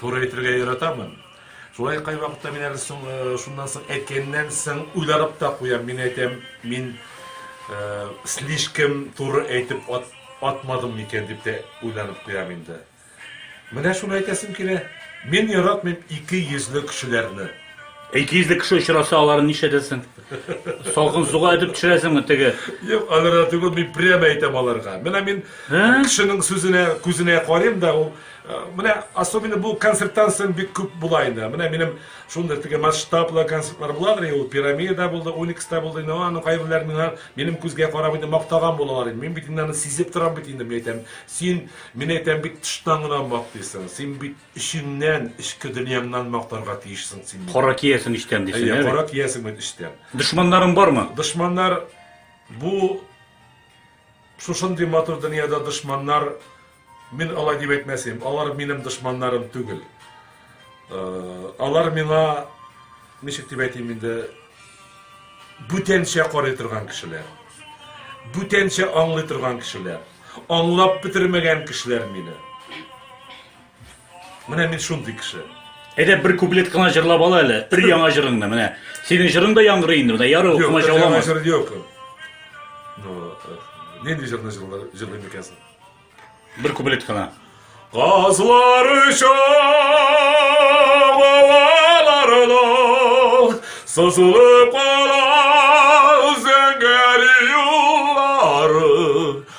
Туры әйтергә яратамын. Шулай кайвакытта мин әле соң, э, шуннан соң әйткәннән соң уйланып та куям. Мин әйтәм, мин э, слишком туры әйтеп ат, атмадым микән дип тә уйланып куям инде. Менә шуны әйтәсем килә. Мин яратмыйм ике йөзле кешеләрне. Ике йөзле кеше очраса, аларын нишләтәсең? Салкын суга этеп төшерәсеңме теге? Юк, аларга түгел, мин прямо әйтәм аларга. Менә мин Ә? кешенең сүзенә, күзенә карыйм да, ул Менә особенно бу концерттан соң бик күп була инде. Менә минем шундый теге масштаблы концертлар буладыр, ул пирамида булды, уникста булды, инде аның кайберләр миңа минем күзгә карап инде мактаган булалар инде. Мин бит инде аны сизеп торам бит инде, мин әйтәм, син, мин әйтәм, бит тыштан гына мактыйсың, син бит эчеңнән, эчке дөньяңнан мактарга тиешсең син. Кара киясең эчтән дисең, әйе? Кара киясең бит эчтән. Дошманнарың бармы? Дошманнар бу Шушындый матур дөньяда дошманнар, мин алай дип әйтмәс идем, алар минем дошманнарым түгел. Э, алар миңа, ничек дип әйтим инде, бүтәнчә карый торган кешеләр. Бүтәнчә аңлый торган кешеләр. Аңлап бетермәгән кешеләр мине. Менә мин шундый кеше. Әйдә бер куплет кына җырлап ал әле. Өр яңа җырыңны менә. Синең җырың да яңгырый инде. Менә яры Юк, укымай җырламас. Яңа җыр юк. Ну, э, нинди җырны җырлыйм икәнсең? Бер куплет кына. Казлар оча балаларына сызылып кала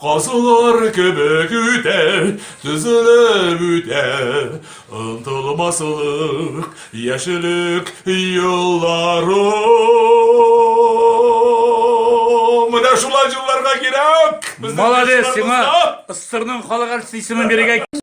Казулар кебек үтә, тезелеп үтә, Ынтылмаслык, яшьлек юлларым. Менә шулай җырларга кирәк! Безнең яшьләр монда! Молодец, сиңа СССРның халык артисты исемен бирергә кирәк.